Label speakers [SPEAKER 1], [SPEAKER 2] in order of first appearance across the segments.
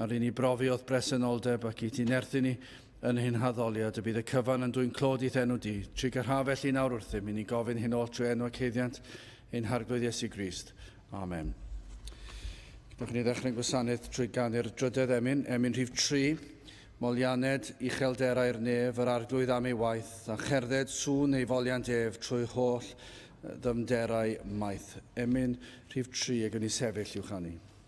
[SPEAKER 1] Ar i ni brofi o'th bresenoldeb ac i ti nerthu ni yn hyn haddoliad y bydd y cyfan yn dwyn clod i'th enw di. Trig a rha felly nawr wrthym i ni gofyn hyn oll trwy enw ac heiddiant ein Harglwydd Iesu Grist. Amen. Gwnewch ni ddechrau'n gwasanaeth trwy ganu'r drydedd emyn, emyn rhif 3, Molianed uchelderau'r nef, yr arglwydd am ei waith, a cherdded sŵn ei foliant ef trwy holl ddymderau maith. Emyn rhif 3 y gwn i sefyll i'w chanu.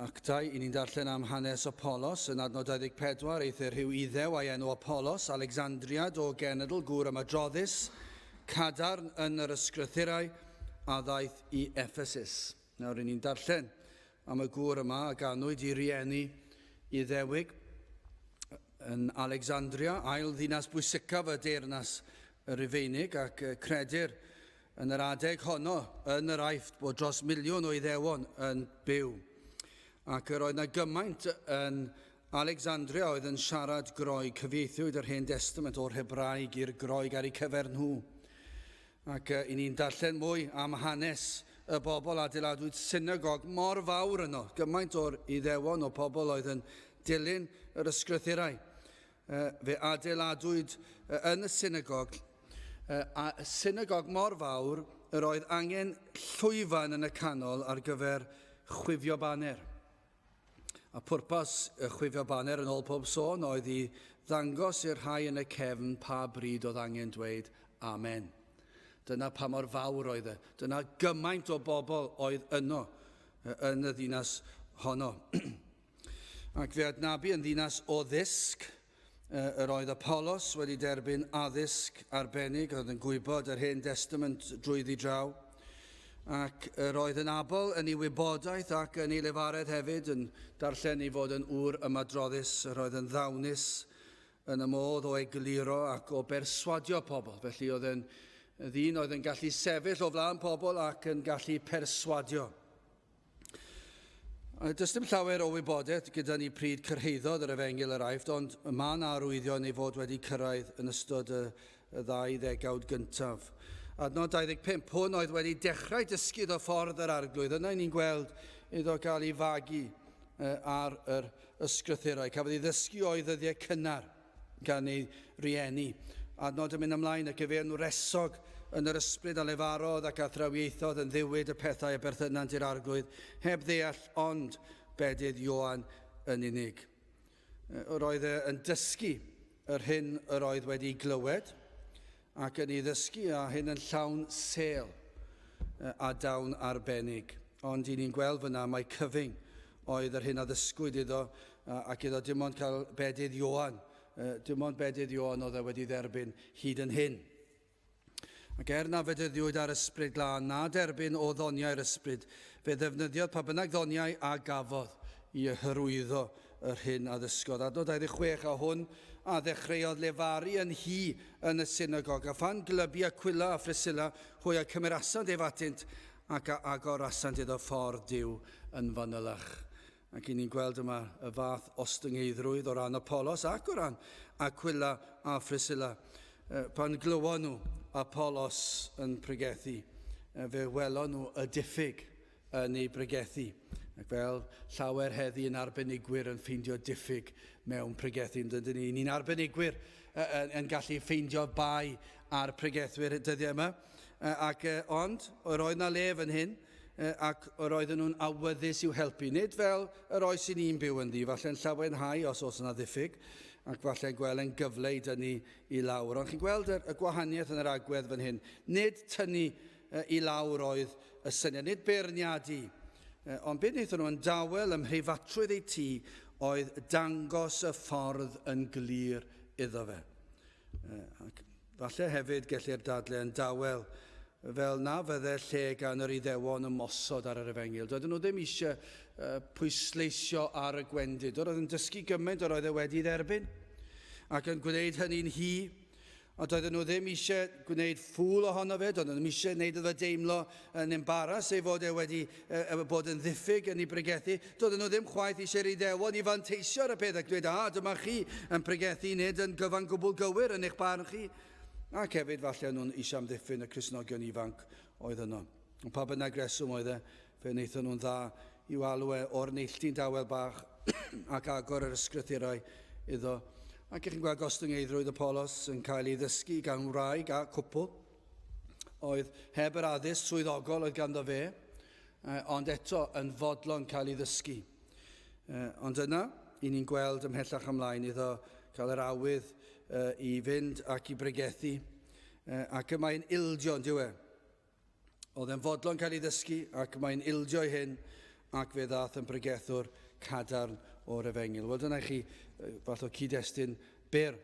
[SPEAKER 1] Actau, i ni'n darllen am hanes Apolos, yn adnod 24, eithr rhyw Iddew a'i enw Apolos, Alexandriad o genedl, gŵr ymadroddus, cadarn yn yr ysgrythurau, a ddaeth i Ephesus. Nawr, i ni'n darllen am y gŵr yma a ganwyd i rieni Iddewig yn Alexandria, ail ddinas bwysicaf y deyrnas Rufeinig, ac credir Yn yr adeg honno yn yr Aifft bod dros miliwn o Iddewon yn byw, ac yr oedd na gymaint yn Alecsanndria oedd yn siarad Groeg, cyfieithiwyd yr Hen Destament o'r Hebraeg i'r Groeg ar eu cyfer nhw. Ac yy, i ni'n darllen mwy am hanes y bobl adeiladwyd synagog mor fawr yno, gymaint o'r Iddewon o pobl oedd yn dilyn yr ysgrythurau. Fe adeiladwyd yn y synagog, a synagog mor fawr yr oedd angen llwyfan yn y canol ar gyfer chwifio baner. A pwrpas y chwifio baner yn ôl pob sôn oedd i ddangos i'r rhai yn y cefn pa bryd oedd angen dweud amen. Dyna pa mor fawr oedd e. Dyna gymaint o bobl oedd yno yn y ddinas honno. Ac fe adnabu yn ddinas o ddysg, yr oedd Apollos wedi derbyn addysg arbennig, oedd yn gwybod yr Hen Destament drwyddi draw, ac yr oedd yn abl yn ei wybodaeth ac yn ei lefaredd hefyd, yn darllen ei fod yn ŵr ymadroddus, yr oedd yn ddawnus yn y modd o egluro ac o berswadio pobl. Felly oedd yn ddyn oedd yn gallu sefyll o flaen pobl ac yn gallu perswadio. Does dim llawer o wybodaeth gyda ni pryd cyrhaeddodd yr efengyl yr aifft, ond mae yna arwyddion ei fod wedi cyrraedd yn ystod y, y ddau ddegawd gyntaf. Adnod 25, hwn oedd wedi dechrau dysgu o ffordd yr arglwydd. Yna ni'n gweld iddo gael ei fagu ar yr ysgrythurau. Cafodd ei ddysgu o'i ddyddiau cynnar. gan eu rhieni, a nod yn mynd ymlaen a gyfeirn wresog yn yr ysbryd a lefarodd ac a thrawiaethodd yn ddiwyd y pethau a berthynant i'r Arglwydd, heb ddeall ond bedydd Ioan yn unig. Yr oedd e yn dysgu yr hyn yr oedd wedi'i glywed, ac yn ei ddysgu a hyn yn llawn sêl a dawn arbennig. Ond i ni'n gweld fyna mai cyfyng oedd yr hyn a ddysgwyd iddo ac iddo dim ond cael bedydd Ioan, dim ond bedydd Ioan oedd e wedi dderbyn hyd yn hyn. Ac er na fedyddiwyd ar ysbryd glân, na derbyn o ddoniau'r ysbryd, fe ddefnyddiodd pa bynnag ddoniau a gafodd i hyrwyddo Yr hyn a ddysgodd Adnod 26 a hwn a ddechreuodd lefaru yn hi yn y synagog, a phan glybu Aquila a Phriscilla hwy a cymerasant ef atynt, ac a agorasant iddo ffordd Duw yn fanylach. Ac i ni'n gweld yma y fath ostyngeiddrwydd o ran Apollos ac o ran Aquila a Phriscilla. Pan glywon nhw Apollos yn pregethu, fe welon nhw y diffyg yn ei bregethu, ac fel llawer heddi yn arbenigwyr yn ffeindio diffyg mewn pregethu, yn dydyn ni, ni'n arbenigwyr yn, yn gallu ffeindio bai ar pregethwyr y dyddiau yma, ac ond yr oedd na le fan hyn, ac yr oedden nhw'n awyddus i'w helpu, nid fel yr oes i ni'n byw ynddi, falle'n llawenhau os oes yna ddiffyg, ac falle'n gweld yn gyfle i dynnu i lawr. Ond chi'n gweld y, y gwahaniaeth yn yr agwedd fan hyn, nid tynnu i lawr oedd y syniad, nid beirniadu, ond be wnaethon nhw yn dawel ym mhreifatrwydd eu tŷ oedd dangos y ffordd yn glir iddo fe. Ac falle hefyd gellir dadle yn dawel fel na fydde lle gan yr Iddewon ymosod ar yr Efengyl. Doedden nhw ddim eisiau uh, pwysleisio ar y gwendid. Yr oedd yn dysgu gymaint yr oedd e wedi dderbyn, ac yn gwneud hynny'n hi, Ond doedden nhw ddim eisiau gwneud ffŵl ohono fe, doedden nhw ddim eisiau gwneud iddo deimlo yn embaras ei fod e wedi uh, bod yn ddiffyg yn ei bregethu. Doedden nhw ddim chwaith eisiau'r Iddewon i fanteisio ar y peth ac dweud, a, dyma chi yn pregethu nid yn gyfan gwbl gywir yn eich barn chi. Ac hefyd, falle nhw'n eisiau amddiffyn y Cresnogion ifanc oedd yno. Ond pa bynnag reswm oedd e, Fe wnaethon nhw'n dda i'w alw e o'r neilltu'n dawel bach ac agor yr ysgrythurau iddo. Ac chi'n gweld gostyngeiddrwydd y polos yn cael ei ddysgu gan wraig a cwpl oedd heb yr addysg swyddogol oedd ganddo fe, ond eto yn fodlon cael ei ddysgu. Ond yna, i ni'n gweld ymhellach ymlaen iddo cael yr awydd i fynd ac i bregethu, ac y mae'n ildio, yn dyw e? Oedd e'n fodlon cael ei ddysgu ac mae'n ildio i hyn ac fe ddaeth yn bregethwr cadarn o'r efengyl. Wel, dyna i chi fath o cyd-destun byr.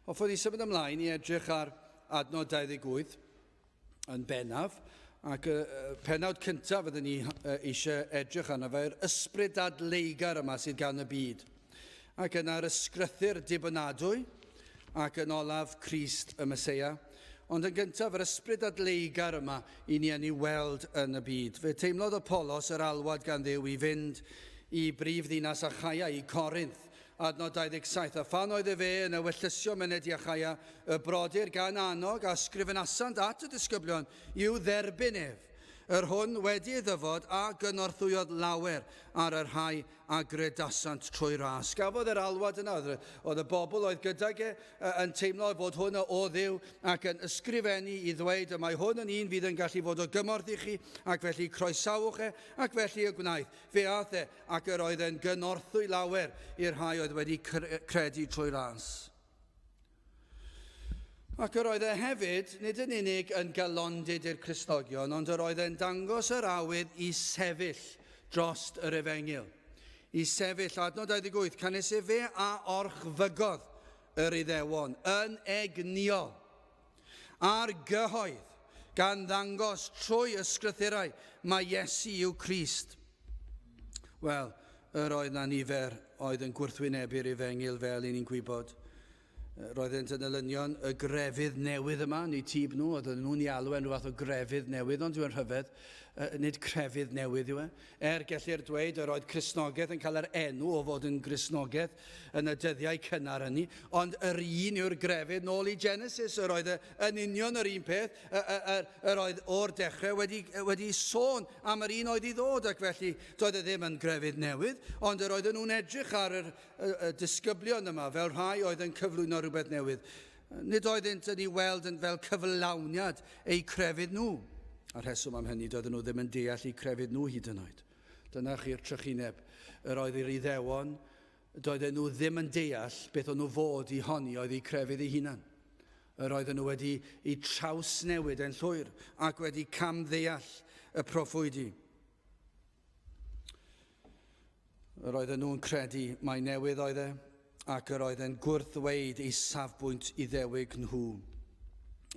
[SPEAKER 1] Hoffwn i symud ymlaen i edrych ar adnod 28 yn bennaf, ac y penawd cyntaf fydden ni eisiau edrych arno fe, yr ysbryd adleigar yma sydd gan y byd. Ac yna'r ysgrythyr dibynadwy, ac yn olaf Christ y Mesoea, Ond yn gyntaf, yr ysbryd adleugar yma i ni yn ei weld yn y byd. Fe teimlodd Apolos yr alwad gan ddew i fynd i brif ddinas Achaia, i Corinth, adnod 27, a phan oedd efe yn ewyllysio myned i Achaia, y brodyr gan annog a sgrifenasant at y disgyblion i'w dderbyn ef. Yr hwn wedi ei ddyfod a gynorthwyodd lawer ar y rhai a gredasant trwy ras. Cafodd yr alwad yna, oedd y bobl oedd gydag e yn teimlo fod hwn o Dduw ac yn ysgrifennu i ddweud y mae hwn yn un fydd yn gallu fod o gymorth i chi ac felly croesawch e ac felly y gwnaeth. Fe ath e ac yr oedd e'n gynorthwy lawer i'r rhai oedd wedi credu trwy ras. Ac yr oedd e hefyd, nid yn unig yn galondid i'r Cristnogion, ond yr oedd e'n dangos yr awydd i sefyll drost yr efengyl. I sefyll, adnod 28, canys efe a orchfygodd yr iddewon yn egnïol. a'r gyhoedd, gan ddangos trwy ysgrythurau mae Iesu yw Crist. Wel, yr oedd na nifer oedd yn gwrthwynebu'r efengil fel i ni'n gwybod. Roeddent yn elynion y grefydd newydd yma, neu tîb nhw, oedd nhw'n ei alw e'n rhyw fath o grefydd newydd, ond yw'n rhyfedd, nid crefydd newydd yw e. Er, gellir dweud yr oedd Cristnogaeth yn cael yr enw o fod yn Gristnogaeth yn y dyddiau cynnar hynny, ond yr un yw'r grefydd nôl i Genesis, yr oedd yn union yr un peth, yr oedd o'r dechrau wedi, wedi sôn am yr un oedd i ddod, ac felly doedd e ddim yn grefydd newydd, ond yr oedden nhw'n edrych ar yr, y, y disgyblion yma fel rhai oedd yn cyflwyno rhywbeth newydd. Nid oeddynt yn ei weld yn fel cyflawniad eu crefydd nhw. A'r rheswm am hynny, doedden nhw ddim yn deall eu crefydd nhw hyd yn oed. Dyna chi'r trychineb. Yr oedd i'r Iddewon, doedden nhw ddim yn deall beth o'n nhw fod i honi oedd eu crefydd eu hunan. Yr oedden nhw wedi eu trawsnewid yn llwyr ac wedi camddeall y proffwydi. Yr oedden nhw'n credu mai newydd oedd e, ac yr oedd e'n gwrthweid ei safbwynt iddewig nhw.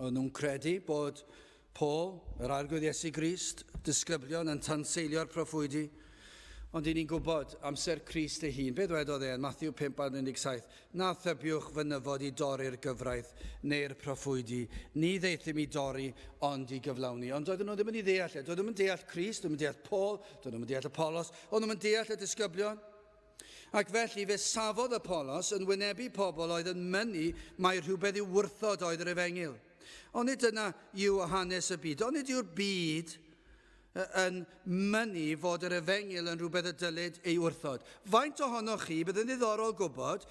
[SPEAKER 1] O'n nhw'n credu bod Paul, yr arglwydd Iesu Grist, disgyblion yn tanseilio'r proffwydi, ond i ni'n gwybod amser Crist ei hun. Beth wedodd e yn Matthew 5 ar 17? Na thybiwch fy nyfod i dorri'r gyfraith neu'r proffwydi, ni ddaethum i dorri, ond i gyflawni. Ond doedden nhw ddim yn ei ddeall e. Doedden nhw'm yn deall Crist, doedden nhw'm yn deall Paul, doedden nhw'm yn deall Apollos, o'n nhw'm yn deall y disgyblion. Ac felly fe safodd Apollos yn wynebu pobl oedd yn mynnu mai rhywbeth i'w wrthod oedd yr efengyl. Onid dyna yw hanes y byd? Onid yw'r byd yn mynnu fod yr efengyl yn rhywbeth y dylid ei wrthod. Faint ohonoch chi, bydd yn ddiddorol gwybod,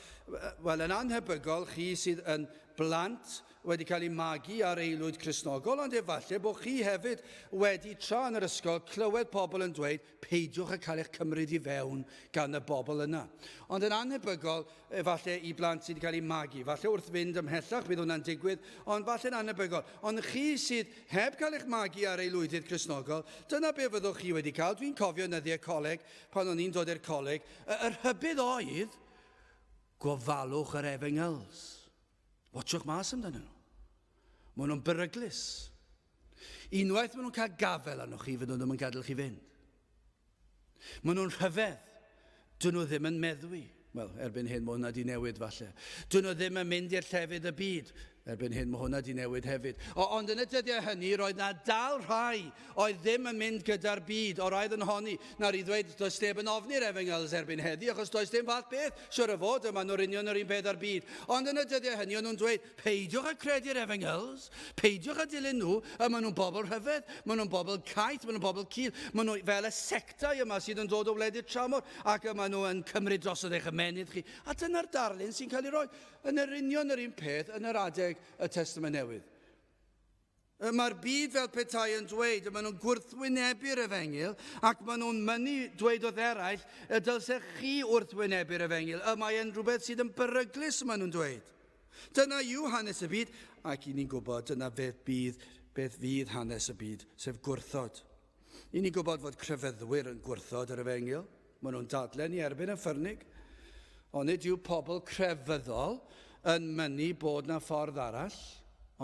[SPEAKER 1] wel yn anhebygol chi sydd yn blant wedi cael eu magu ar eilwyd Cresnogol, ond efallai bod chi hefyd wedi tra yn yr ysgol clywed pobl yn dweud peidiwch â cael eich cymryd i fewn gan y bobl yna. Ond yn anhebygol, Efallai i blant sydd wedi cael eu magu, efallai wrth fynd ymhellach bydd hwnna'n digwydd, ond falle'n annebygol. Ond chi sydd heb cael eich magu ar ei lwyddydd Cresnogol, dyna be fyddwch chi wedi cael. Dwi'n cofio nyddiau coleg, pan o'n i'n dod i'r coleg, y, y rhybudd oedd, gofalwch yr efengyls. Watchwch mas amdanyn nhw. Maen nhw'n beryglus. Unwaith maen nhw'n cael gafel arnoch chi, fydden nhw ddim yn gadael chi fynd. Maen nhw'n rhyfedd. Dyn nhw ddim yn meddwi. Wel, erbyn hyn mae hwnna di newid falle. Dyn nhw ddim yn mynd i'r llefydd y byd. Erbyn hyn mae hwnna di newid hefyd. O, ond yn y dyddiau hynny, roedd na dal rhai Oedd ddim yn mynd gyda'r byd, oraidd yn honi, nawr i ddweud does neb yn ofni'r Efengyls erbyn heddi, achos does dim fath beth, siwr o fod, y maen nhw'r union yr un peth â'r byd. Ond yn y dyddiau hynny o'n nhw'n dweud, peidiwch â credu'r Efengyls, peidiwch â dilyn nhw, y maen nhw'n bobl rhyfedd, maen nhw'n bobl caeth, maen nhw'n bobl cul, maen nhw fel y sectau yma sydd yn dod o wledydd tramor, ac y maen nhw yn cymryd drosodd eich ymenydd chi. A dyna'r darlun sy'n cael ei roi yn yr union yr un peth yn yr adeg y Testament Newydd. Y mae'r byd fel petai yn dweud y maen nhw'n gwrthwynebu'r efengyl ac maen nhw'n mynnu dweud wrth eraill y dylsech chi wrthwynebu'r efengyl. Y mae yn rhywbeth sydd yn beryglus y maen nhw'n dweud. Dyna yw hanes y byd ac i ni'n gwybod dyna beth bydd, beth fydd hanes y byd, sef gwrthod. Y'n ni'n gwybod fod crefyddwyr yn gwrthod yr efengyl, maen nhw'n dadlen i erbyn y ffyrnig. Onid yw pobl crefyddol yn mynnu bod na ffordd arall?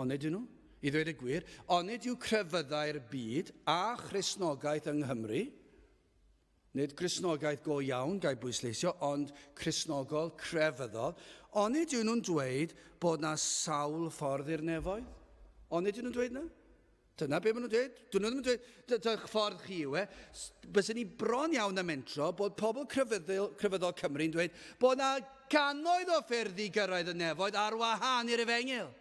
[SPEAKER 1] Onid yw nhw? I ddweud y gwir, onid yw crefyddau'r byd a Christnogaeth yng Nghymru Nid Cristnogaeth go iawn, gai bwysleisio, ond Cristnogol crefyddol. Onid yw nhw'n dweud bod na sawl ffordd i'r nefoedd? Onid yw nhw'n dweud na? Dyna beth maen nhw'n dweud. Dyn nhw ddim yn dweud, dy'ch ffordd chi yw e. Byddwn ni bron iawn na mentro bod pobl crefyddol, crefyddol Cymru'n dweud bod na gannoedd o ffyrdd i gyrraedd y nefoedd ar wahân i'r efengyl.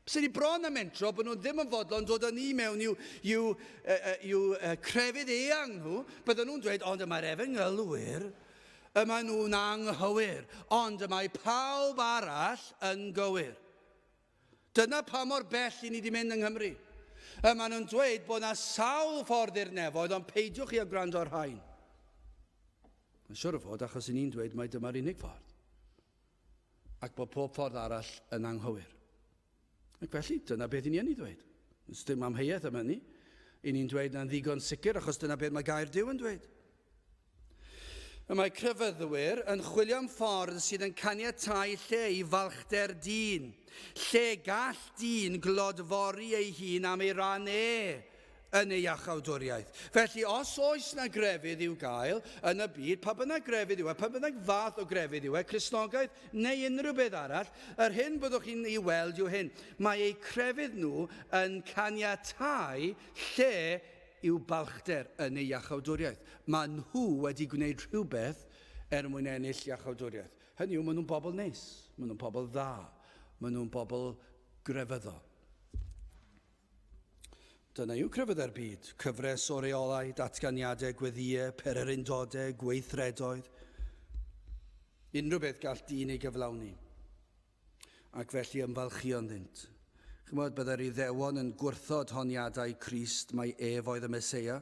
[SPEAKER 1] Sy'n ni bron a mentro bod nhw ddim yn fodlon dod â ni mewn i'w, i'w, i'w crefydd eang nhw, bydden nhw'n dweud, ond y mae'r efengylwyr, y maen nhw'n anghywir, ond y mae pawb arall yn gywir. Dyna pa mor bell i ni wedi mynd yng Nghymru. Y maen nhw'n dweud bod yna sawl ffordd i'r nefoedd, ond peidiwch chi a gwrando ar rhain. Mae'n siwr o fod achos i ni'n dweud mae dyma'r unig ffordd. ac bod pob ffordd arall yn anghywir. Ac felly, dyna beth i ni yn ei ddweud. Does dim amheuaeth am hynny. I ni'n dweud na'n ddigon sicr achos dyna beth mae gair Duw yn dweud. Y mae crefyddwyr yn chwilio am ffordd sydd yn caniatau lle i falchder dyn, lle gall dyn glodfori ei hun am ei ran e, yn ei achawdwriaeth. Felly, os oes na grefydd i'w gael yn y byd, pa bynnag grefydd yw e, pa bynnag fath o grefydd yw e, Cristnogaeth neu unrhyw beth arall, yr hyn byddwch chi'n ei weld yw hyn, mae eu crefydd nhw yn caniatáu lle i'w balchder yn ei iachawdwriaeth. Mae nhw wedi gwneud rhywbeth er mwyn ennill iachawdwriaeth. Hynny yw, maen nhw'n bobl neis, maen nhw'n pobl dda, maen nhw'n bobl grefyddol. Dyna yw crefyddau'r byd, cyfres o reolau, datganiadau, gweddïau, pererindodau, gweithredoedd, unrhyw beth gall dyn ei gyflawni, ac felly ymfalchio'n ddynt. Chymod, byddai'r Iddewon yn gwrthod honiadau Crist mai ef oedd y Meseia,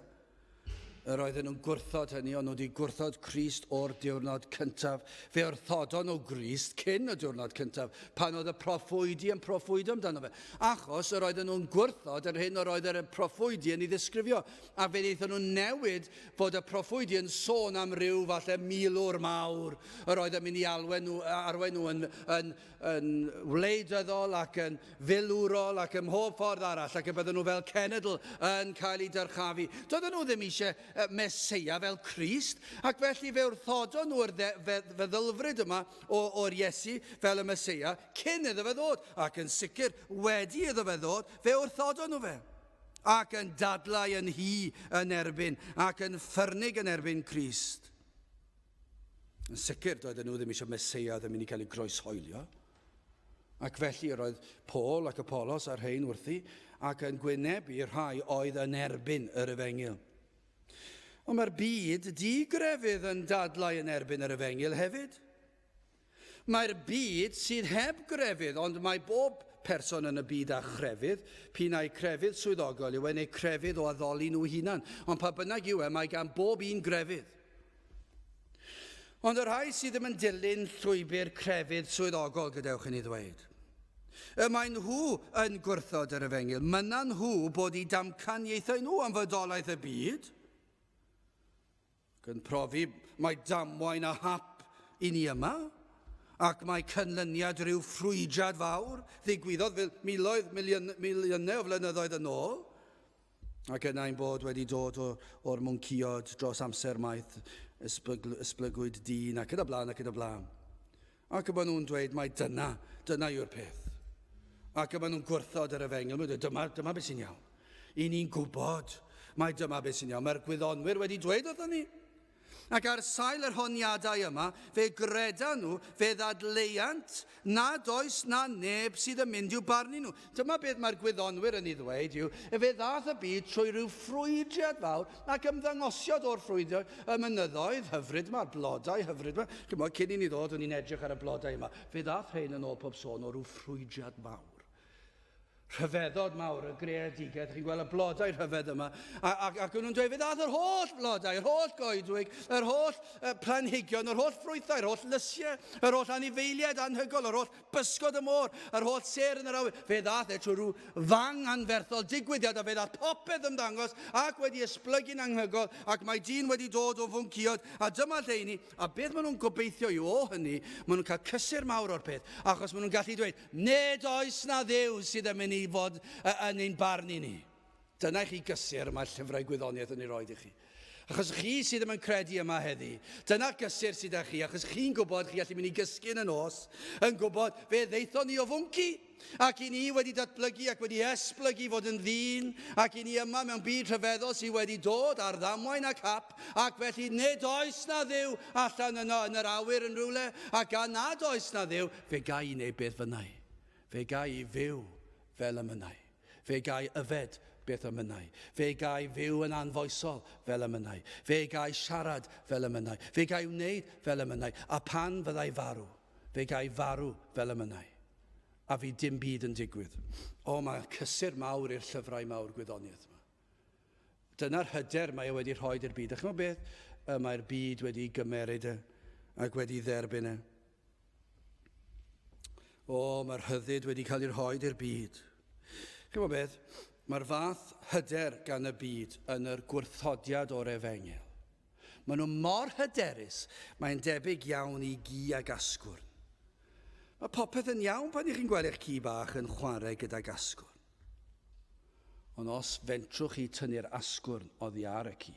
[SPEAKER 1] Yr oedden nhw'n gwrthod hynny, ond nhw wedi gwrthod Crist o'r diwrnod cyntaf. Fe wrthodon nhw Grist cyn y diwrnod cyntaf, pan oedd y proffwydi yn proffwydo amdano fe. Achos yr oedden nhw'n gwrthod yr hyn yr oedd yr proffwydi yn ei ddisgrifio. A fe wnaethon nhw newid fod y proffwydi yn sôn am ryw falle milwr mawr yr oedd yn mynd i alwen nhw, arwen nhw yn, yn yn wleidyddol ac yn filwrol ac ym mhob ffordd arall ac y bydden nhw fel cenedl yn cael eu dyrchafu. Doedden nhw ddim eisiau meseia fel Christ ac felly fe wrthodon nhw'r feddylfryd yma o'r Iesu fel y meseia cyn iddo fe ddod ac yn sicr wedi iddo fe ddod fe wrthodon nhw fe ac yn dadlau yn hi yn erbyn ac yn ffyrnig yn erbyn Christ. Yn sicr, doedden nhw ddim eisiau Meseia oedd yn mynd i gael ei groeshoelio. Ac felly yr oedd Paul ac Apollos a'r rhain wrthi, ac yn gwynebu rhai oedd yn erbyn yr efengyl. Ond mae'r byd di-grefydd yn dadlau yn erbyn yr efengyl hefyd. Mae'r byd sydd heb grefydd, ond mae bob person yn y byd â chrefydd, p'un ai crefydd swyddogol yw e neu crefydd o addoli nhw hunan, ond pa bynnag yw e, mae gan bob un grefydd. Ond y rhai sydd ddim yn dilyn llwybr crefydd swyddogol, gadewch i ni ddweud, y maen nhw yn gwrthod yr efengyl, mynnan nhw bod i damcaniaethau nhw am fodolaeth y byd, ac yn profi mai damwain a hap i ni yma, ac mae cynlyniad rhyw ffrwydrad fawr ddigwyddodd fel miloedd miliwn, miliynau o flynyddoedd yn ôl, ac yna ein bod wedi dod o'r mwnciod dros amser maith, ysbygl, ysblygwyd dyn, ac yn y blaen, ac yn y blaen. Ac y maen nhw'n dweud mai dyna, dyna yw'r peth. Ac y maen nhw'n gwrthod yr efengyl, maen nhw'n dyma, dyma beth sy'n iawn. I ni'n gwybod mai dyma beth sy'n iawn. Mae'r gwyddonwyr wedi dweud wrthyn ni. Ac ar sail yr honiadau yma, fe gredan nhw, fe ddadleuant nad oes na neb sydd yn mynd i'w barnu nhw. Dyma beth mae'r gwyddonwyr yn ei ddweud yw, efe ddaeth y byd trwy ryw ffrwydriad fawr ac ymddangosiad o'r ffrwydriad y mynyddoedd hyfryd yma, blodau hyfryd yma. Chymod, cyn i ni ddod, o'n i'n edrych ar y blodau yma. Fe ddaeth rhain yn ôl pob sôn o ryw ffrwydriad mawr. Rhyfeddod mawr, y greadigaeth, chi'n gweld y blodau rhyfedd yma, ac, ac nhw'n dweud, fe ddaeth yr holl flodau, yr holl goedwig, yr holl uh, planhigion, yr holl ffrwythau, yr holl lysiau, yr holl anifeiliaid anhygol, yr holl Bysgod y môr, yr holl sêr yn yr awyr. Fe ddath e trwy rhyw fang anferthol digwyddiad a fe ddath popeth ymddangos ac wedi esblygu'n anghygol ac mae dyn wedi dod o fwnciod a dyma lle i ni a beth maen nhw'n gobeithio yw o hynny maen nhw'n cael cysur mawr o'r peth achos maen nhw'n gallu dweud nid oes na ddew sydd yn mynd i fod yn ein barn i ni. Dyna i chi gysur y mae llyfrau gwyddoniaeth yn ei roed i chi. Achos chi sydd ddim yn credu yma heddi, dyna gysur sydd â chi, achos chi'n gwybod chi allu mynd i gysgu yn y nos, yn gwybod fe ddeithon ni o fwnci, ac i ni wedi datblygu ac wedi esblygu fod yn ddyn, ac i ni yma mewn byd rhyfeddol sydd wedi dod ar ddamwain ac hap, ac felly nid oes na ddiw allan yno yn yr awyr yn rhywle, a gan nad oes na ddiw, fe gai i wneud beth fynnau, fe gai i fyw fel y mynnau. Fe gai yfed beth y mynnai. Fe gai fyw yn anfoesol fel y mynnai. Fe gai siarad fel y mynnai. Fe gai wneud fel y mynnai. A phan fyddai farw, fe gai farw fel y mynnai. A fydd dim byd yn digwydd. O, mae cysur mawr i'r llyfrau mawr gwyddoniaeth yma. Dyna'r hyder mae e wedi rhoi i'r byd. A chymod beth? Y mae'r byd wedi gymeryd e ac wedi dderbyn e. O, mae'r rhyddid wedi cael ei rhoi i'r byd. Chymod beth? Mae'r fath hyder gan y byd yn yr gwrthodiad o'r efengil. Maen nhw mor hyderus, mae'n debyg iawn i gi ag asgwrn. Mae popeth yn iawn pan ych chi'n gweld eich ci bach yn chwarae gydag asgwrn. Ond os fentrwch chi tynnu'r asgwrn oddi ar y ci,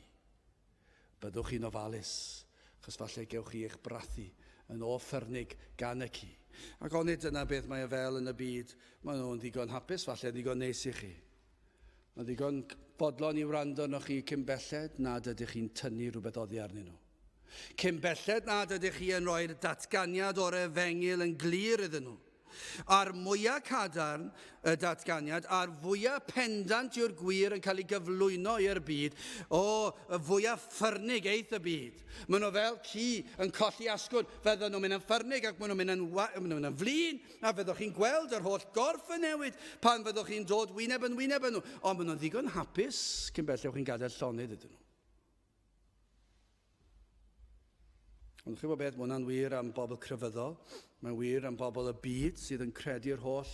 [SPEAKER 1] byddwch chi'n ofalus, achos falle gewch chi eich brathu yn ôl ffyrnig gan y ci. Ac onid dyna beth mae o fel yn y byd? Maen nhw'n ddigon hapus, falle, yn ddigon neis i chi. Mae'n ddigon bodlon i wrando arnoch chi cyn belled nad ydych chi'n tynnu rhywbeth oddi arnyn nhw. Cyn belled nad ydych chi yn rhoi'r datganiad o'r efengyl yn glir iddyn nhw. A'r mwyaf cadarn y datganiad, a'r fwyaf pendant yw'r gwir yn cael ei gyflwyno i'r byd, o, y fwyaf ffyrnig eith y byd. Maen nhw fel ci yn colli asgwrn, fydden nhw'n mynd yn ffyrnig ac maen nhw'n mynd yn, maen nhw'n mynd yn flin, a fyddwch chi'n gweld yr holl gorff yn newid pan fyddwch chi'n dod wyneb yn wyneb yn nhw, ond maen nhw'n ddigon hapus cyn belled chi'n gadael llonydd iddyn nhw. Ond chi'n gwybod beth, mae hwnna'n wir am bobl crefyddol, mae'n wir am bobl y byd sydd yn credu'r holl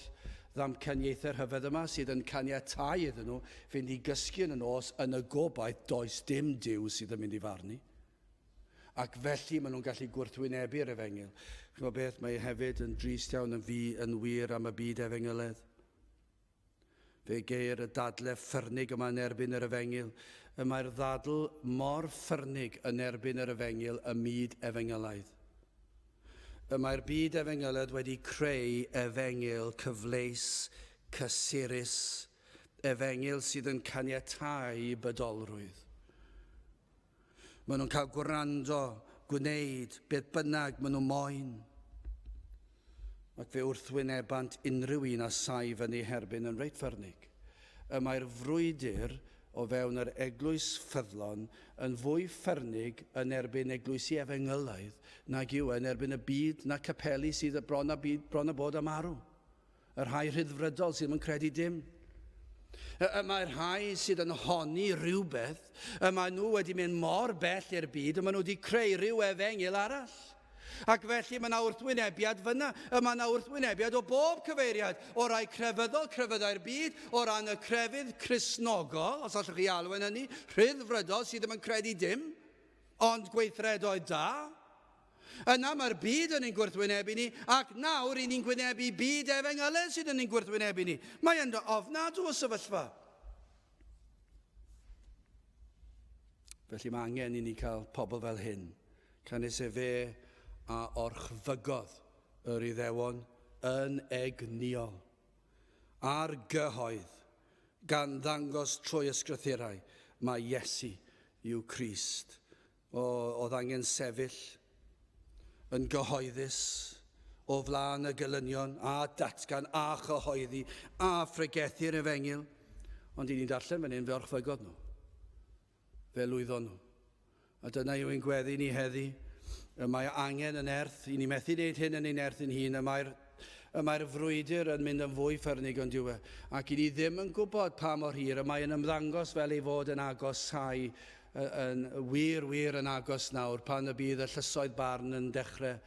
[SPEAKER 1] ddamcaniaethau rhyfedd yma sydd yn caniatau iddyn nhw fynd i gysgu yn y nos yn y gobaith does dim Duw sydd yn mynd i farnu ac felly maen nhw'n gallu gwrthwynebu'r efengyl. Chi'n gwybod beth, mae e hefyd yn drist iawn yn fi yn wir am y byd efengyledd. Fe geir y dadle ffyrnig yma yn erbyn yr efengyl. Y mae'r ddadl mor ffyrnig yn erbyn yr efengyl ym myd efengylaidd. Y mae'r byd efengylaidd wedi creu efengyl cyfleus, cysurus, efengyl sydd yn caniatáu bydolrwydd. Maen nhw'n cael gwrando, gwneud beth bynnag maen nhw moyn. Ac fe wrthwynebant unrhyw un a sai fyny herbyn yn reit ffyrnig. Y mae'r frwydr o fewn yr eglwys ffyddlon yn fwy ffyrnig yn erbyn eglwysi efengylaidd nag yw yn erbyn y byd na capeli sydd bron a, byd, bron a bod am arw. Y rhai rhyddfrydol sydd ddim yn credu dim. Y, y mae'r rhai sydd yn honni rhywbeth, y maen nhw wedi mynd mor bell i'r byd, y maen nhw wedi creu rhyw efengyl arall. Ac felly mae yna wrthwynebiad fyna, y mae yna wrthwynebiad o bob cyfeiriad, o rai crefyddol, crefyddau'r byd, o ran y crefydd chrysnogol, os allwch chi alw yn hynny, rhyddfrydol sydd ddim yn credu dim, ond gweithredoedd da, Yna mae'r byd yn ein gwrthwynebu ni, ac nawr i ni'n gwynebu byd efengylau sydd yn ein gwrthwynebu ni. Mae ynddo ofnadw o sefyllfa. Felly mae angen i ni cael pobl fel hyn, canys efe a orchfygodd yr Iddewon yn egniol a'r gyhoedd gan ddangos trwy ysgrythurau mae Iesu yw Crist Oedd angen sefyll yn gyhoeddus o flaen y gelynion a datgan a chyhoeddi a phregethu'r efengyl, ond i ni'n darllen fan hyn fe orchfygodd nhw. Fe lwyddon nhw. A dyna yw ein gweddi ni heddi. Y mae angen yn erth, i ni methu wneud hyn yn ein erth ein hun, y mae'r Y mae'r frwydr yn mynd yn fwy ffyrnig yn dyw e, ac i ni ddim yn gwybod pa mor hir y mae'n ymddangos fel ei fod yn agos llai, yn wir, wir yn agos nawr, pan y bydd y llysoedd barn yn dechrau,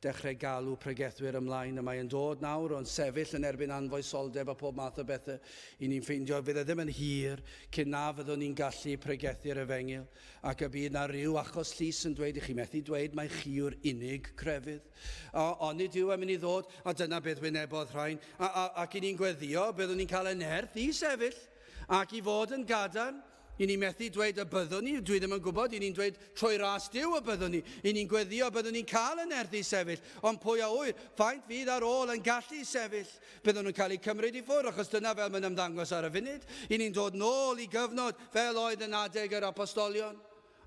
[SPEAKER 1] dechrau galw pregethwyr ymlaen. Y mae yn dod nawr, ond sefyll yn erbyn anfoesoldeb a phob math o bethau, i ni'n ffeindio, fydd e ddim yn hir cyn na fyddwn ni'n gallu pregethu'r efengyl, ac y bydd 'na ryw achos llys yn dweud i chi methu dweud mai chi yw'r unig grefydd. O, onid yw am i ni ddod, a dyna beth wynebodd rhain, a, a, ac i ni'n gweddio, byddwn ni'n cael ein nerth i sefyll, ac i fod yn gadarn, i ni methu dweud y byddwn ni, dwi ddim yn gwybod, i ni'n dweud trwy ras diw y byddwn ni, i ni'n gweddio, byddwn ni'n cael yn erth i sefyll, ond pwy a wyr, faint fydd ar ôl yn gallu sefyll? Byddwn nhw'n cael eu cymryd i ffwrdd, achos dyna fel mae'n ymddangos ar y funud. I ni'n dod nôl i gyfnod fel oedd yn adeg yr apostolion.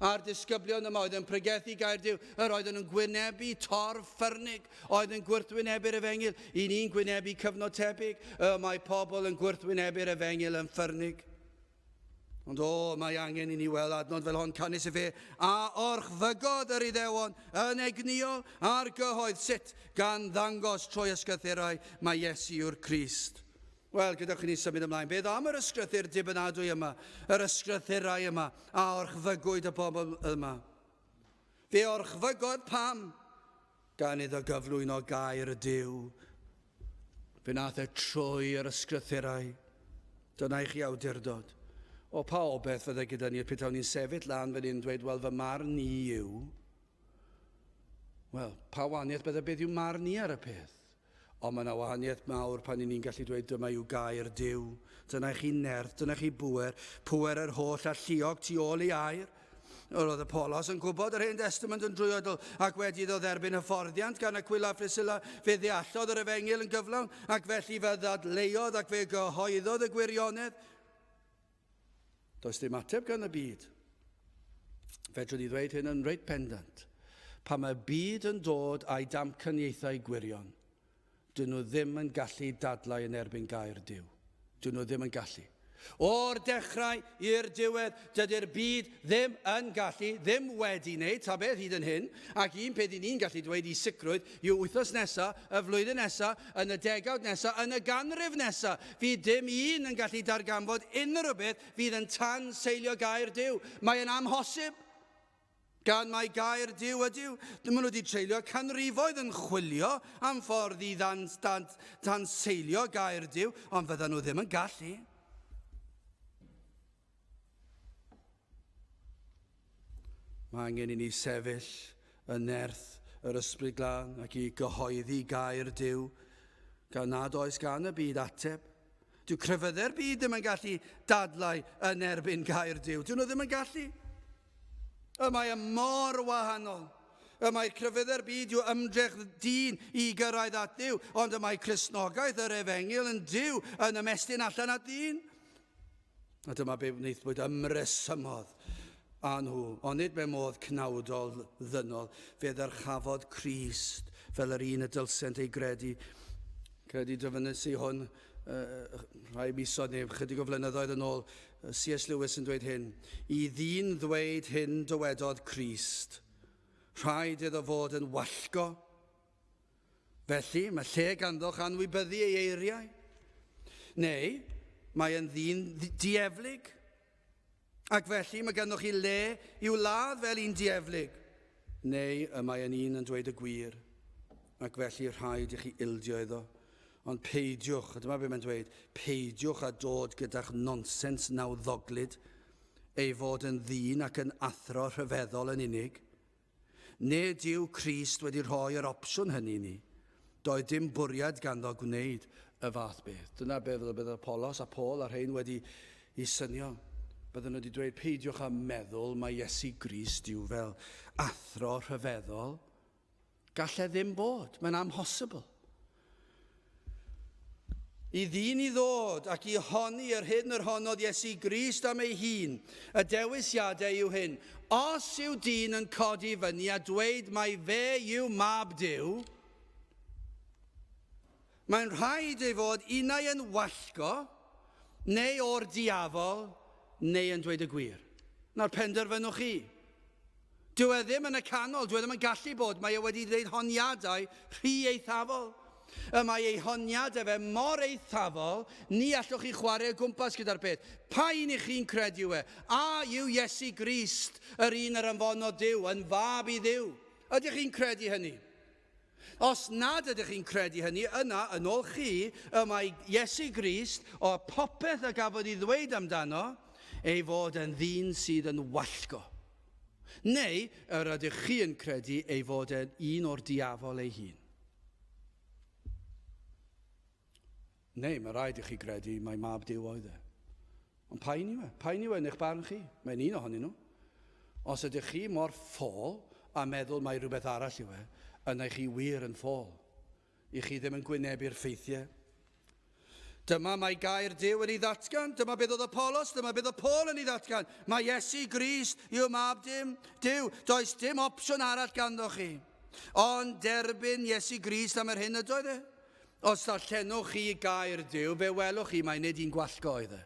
[SPEAKER 1] a'r disgyblion yma oedd yn pregethu Gaerdyw, yr oedden nhw'n gwynebu torf ffyrnig, oedd yn gwrthwynebu'r efengyl, i ni'n gwynebu cyfnod tebyg, y mae pobl yn gwrthwynebu'r efengyl yn ffyrnig. Ond o, mae angen i ni weld adnod fel hon canys y fe a orchfygodd yr iddewon yn egniol a'r gyhoedd sut gan ddangos trwy ysgythurau mae Iesu yw'r Crist. Wel, gadewch i ni symud ymlaen. Beth am yr ysgrythyr dibynadwy yma, yr ysgrythurau yma, a orchfygwyd y bobl yma? Fe orchfygodd pam gan iddo gyflwyno gair y Dyw. Fe nath e trwy yr ysgrythurau. Dyna i chi awdurdod. O pa obeth fydde gyda ni petawn ni'n sefyll lan fan hyn dweud, wel, fy marn ni yw. Wel, pa waniaeth bydde beth yw marn ni ar y peth? Ond mae yna wahaniaeth mawr pan i ni'n gallu dweud dyma yw gair Duw, dyna i chi nerth, dyna chi bŵer, pŵer yr holl alluog tu ôl i air. Yr oedd y Polos yn gwybod yr Hen Destament yn drwyadl, ac wedi iddo dderbyn hyfforddiant gan Aquila a Phriscilla, fe ddeallodd yr Efengyl yn gyflawn, ac felly fe ddadleuodd ac fe gyhoeddodd y gwirionedd. Does dim ateb gan y byd. Fedrwn i ddweud hyn yn reit pendant. Pan mae'r byd yn dod a'i damcaniaethau gwirion, dyn nhw ddim yn gallu dadlau yn erbyn gair Duw. Dyn nhw ddim yn gallu. O'r dechrau i'r diwedd, dydy'r byd ddim yn gallu, ddim wedi wneud ta beth hyd yn hyn, ac un peth i ni'n gallu dweud i sicrwydd Y wythnos nesa, y flwyddyn nesa, yn y degawd nesa, yn y ganrif nesa, fydd dim un yn gallu darganfod unrhyw beth fydd yn tan seilio gair Duw. Mae yn amhosib. Gan mai gair Duw ydyw, maen nhw wedi treulio canrifoedd yn chwilio am ffordd i ddan, dan, dan seilio gair Duw, ond fyddan nhw ddim yn gallu. Mae angen i ni sefyll yn nerth yr Ysbryd Glân ac i gyhoeddi gair Duw, gan nad oes gan y byd ateb. Dyw crefyddau'r byd ddim yn gallu dadlau yn erbyn gair Duw. Dyw nhw ddim yn gallu. Y mae y mor wahanol. Y mae crefyddau'r byd yw ymdrech dyn i gyrraedd at Dduw, ond y mae Cresnogaeth yr Efengil yn Duw yn ymestyn allan at ddyn. A dyma be wnaethbwyd ymresymodd â nhw, onid mewn modd cnawdol ddynol, fe ddyrchafod Crist fel yr un y dylsent ei gredu. Credu dyfynnes i hwn uh, rhai misoedd neu chydig o flynyddoedd yn ôl, C.S. Lewis yn dweud hyn, i ddyn ddweud hyn dywedodd Crist, rhaid iddo fod yn wallgo Felly, mae lle ganddoch anwybyddu ei eiriau. Neu, mae yn ddyn dieflig. Ac felly, mae ganddoch chi le i'w ladd fel un dieflig. Neu, y mae yn un yn dweud y gwir. Ac felly, rhaid i chi ildio iddo. Ond peidiwch, a dyma beth mae'n dweud, peidiwch a dod gyda'ch nonsens nawddoglyd, ei fod yn ddyn ac yn athro rhyfeddol yn unig. Nid yw Crist wedi rhoi yr opsiwn hynny i ni. Doedd dim bwriad ganddo gwneud y fath beth. Dyna beth fel y bydd Apolos a Paul a rhein wedi i synio. Bydden nhw wedi dweud, peidiwch â meddwl mae Iesu Grist yw fel athro rhyfeddol. Gallai ddim bod, mae'n amhosibl. I ddyn i ddod ac i honni yr hyn yr honnodd Iesu Grist am ei hun, y dewisiadau yw hyn, os yw dyn yn codi fyny a dweud mai fe yw mab Duw, mae'n rhaid ei fod unau yn wallgo, neu o'r diafol, neu yn dweud y gwir. Nawr penderfynwch chi. Dyw e ddim yn y canol, dyw e ddim yn gallu bod, mae e wedi gwneud honiadau rhy eithafol. Y mae ei honiadau fe mor eithafol, ni allwch chi chwarae o gwmpas gyda'r peth. Pa un i chi'n credu yw e? A yw Iesu Grist, yr un yr anfonodd Duw, yn fab i Dduw? Ydych chi'n credu hynny? Os nad ydych chi'n credu hynny, yna, yn ôl chi, y mae Iesu Grist, o'r popeth y gafodd ei ddweud amdano, ei fod yn ddyn sydd yn wallgo. Neu yr ydych chi yn credu ei fod yn un o'r diafol ei hun? Neu mae rhaid i chi gredu mai mab Duw oedd e. Ond pa un yw e? Pa un yw e yn eich barn chi? Mae'n un ohonyn nhw. Os ydych chi mor ffôl a meddwl mai rhywbeth arall yw e, yna i chi wir yn ffôl. I chi ddim yn gwynebu'r ffeithiau. Dyma mae gair Duw yn ei ddatgan, dyma beth oedd y polos, dyma beth oedd Paul yn ei ddatgan. Mae Iesu Grist yw mab dim, Duw, does dim opsiwn arall ganddo chi. Ond derbyn Iesu Grist am yr hyn ydoedd e. Os darllenwch chi gair Duw, fe welwch chi mai nid un gwallgo oedd e.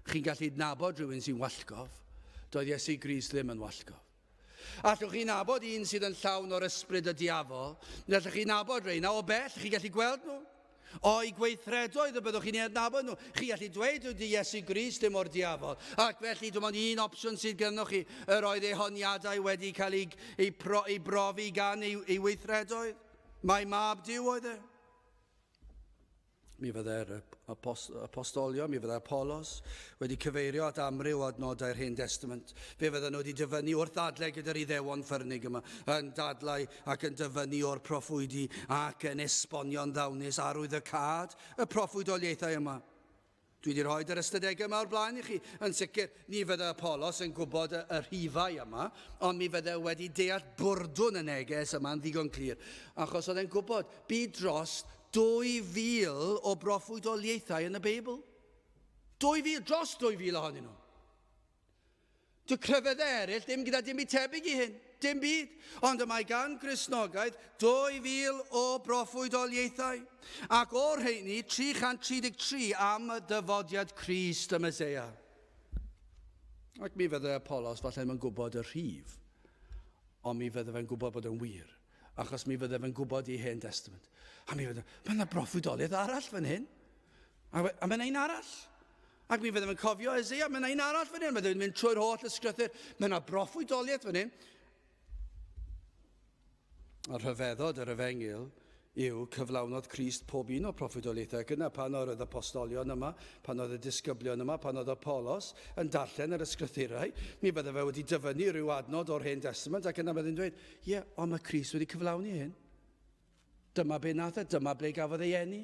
[SPEAKER 1] Chi'n gallu nabod rhywun sy'n wallgof. Doedd Iesu Grist ddim yn wallgof. Allwch chi nabod un sydd yn llawn o'r ysbryd y diafol, neu allwch chi nabod reina o bell, chi'n gallu gweld nhw. O'i gweithredoedd y byddwch chi'n ei adnabod nhw. Chi allu dweud yw di Iesu Grist dim o'r diafol. Ac felly dim ond un opsiwn sydd gynnwch chi, yr oedd ei honiadau wedi cael ei, ei, pro, ei brofi gan ei, ei weithredoedd. Mai mab Duw oedd e. Mi fyddai'r apostolion, mi fyddai Apollos wedi cyfeirio at amryw o adnodau'r Hen Testament. Fe fydden nhw wedi dyfynnu wrth ddadlau gyda'r iddewon ffyrnig yma, yn dadlau ac yn dyfynnu o'r proffwydi ac yn esbonio'n ddawnus arwyddocâd y proffwydoliaethau yma. Dwi wedi rhoi yr ystadegau yma o'r blaen i chi. Yn sicr, ni fydde Apollos yn gwybod y, y rhifau yma, ond mi fydde wedi deall bwrdwn y neges yma'n ddigon clir, achos oedd e'n gwybod bu dros 2,000 o broffwydoliaethau yn y Beibl. 2,000, dros 2,000 ohonyn nhw. Dy crefydd eraill, dim gyda dim byd tebyg i hyn, dim byd. Ond y mae gan Gristnogaeth 2000 o broffwydoliaethau, ac o'r rheini 333 am dyfodiad Crist y Meseia. Ac mi fyddai Apollos falle yn gwybod y rhif, ond mi fyddai fe'n gwybod bod yn wir, achos mi fyddai fe'n gwybod i Hen Testament. A mi fyddai, mae yna broffwydoliaeth arall fan hyn. A, we, a mae yna un arall. Ac mi fyddwn yn cofio Ezeia, mae yna un arall fan hyn, mae yna mynd trwy'r holl ysgrythyr, mae yna broffwydoliaeth fan hyn. A rhyfeddod yr efengil yw cyflawnodd Christ pob un o proffwydoliaethau ac yna pan oedd y postolion yma, pan oedd y disgyblion yma, pan oedd y polos yn darllen yr ysgrythurau, mi bydde fe wedi dyfynnu rhyw adnod o'r Hen Testament ac yna bydde'n dweud, ie, yeah, ond mae Christ wedi cyflawni hyn. Dyma be nath e, dyma ble gafodd ei eni,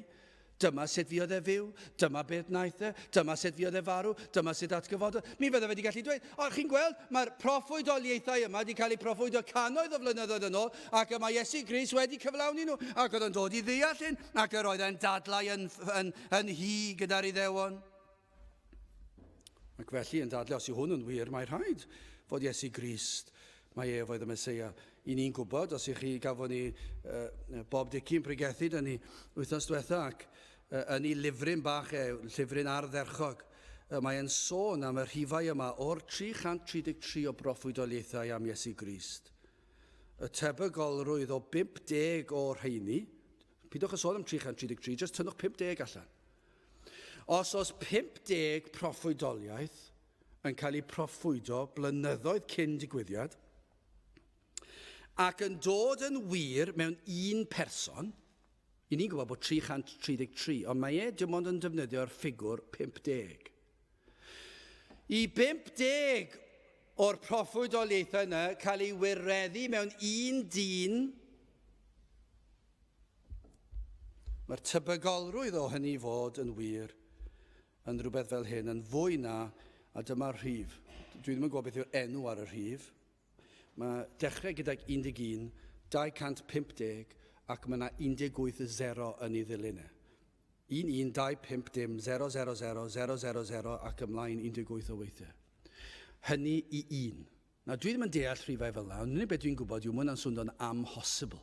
[SPEAKER 1] dyma sut fuodd e fyw, dyma beth naeth e, dyma sut fuodd e farw, dyma sut atgyfododd. Mi fydda wedi gallu dweud, o chi'n gweld, mae'r proffwydoliaethau yma wedi cael eu proffwydo cannoedd o flynyddoedd yn ôl, ac y mae Iesu Gris wedi cyflawni nhw, ac oedd yn dod i ddeall hyn, ac yr oedd e'n dadlau yn, yn, yn hi gyda'r iddewon. Ac felly, yn dadle, os yw hwn yn wir, mae rhaid fod Iesu Grist, mae ef oedd y Mesoea. I ni'n gwybod, os i chi gafon ni uh, Bob Dicki'n pregethu dyn ni wythnos diwetha ac uh, yn ei lyfryn bach e, llyfryn ardderchog, uh, mae'n sôn am y rhifau yma o'r 333 o broffwydoliaethau am Iesu Grist. Y tebygolrwydd o 50 o'r rheini, Pidwch â sôn am 333, jyst tynnwch 50 allan. Os oes 50 proffwydoliaeth yn cael eu proffwydo blynyddoedd cyn digwyddiad ac yn dod yn wir mewn un person, i ni'n gwybod bod 333, ond mae e dim ond yn defnyddio'r ffigwr 50. Y 50 o'r proffwydoliaethau yna cael ei wireddu mewn un dyn, mae'r tebygolrwydd o hynny fod yn wir yn rhywbeth fel hyn yn fwy na, a dyma'r rhif, dwi ddim yn gwybod beth yw'r enw ar y rhif, mae dechrau gydag 11, 250 ac mae yna 18 y 0 yn ei ddilyn e. 1125 dim 000000 ac ymlaen 18 o weithiau. Hynny i un. Na, dwi ddim yn deall rhifau fel yna, ond unig beth dwi'n gwybod yw mae hwnna'n swndo'n amhosibl.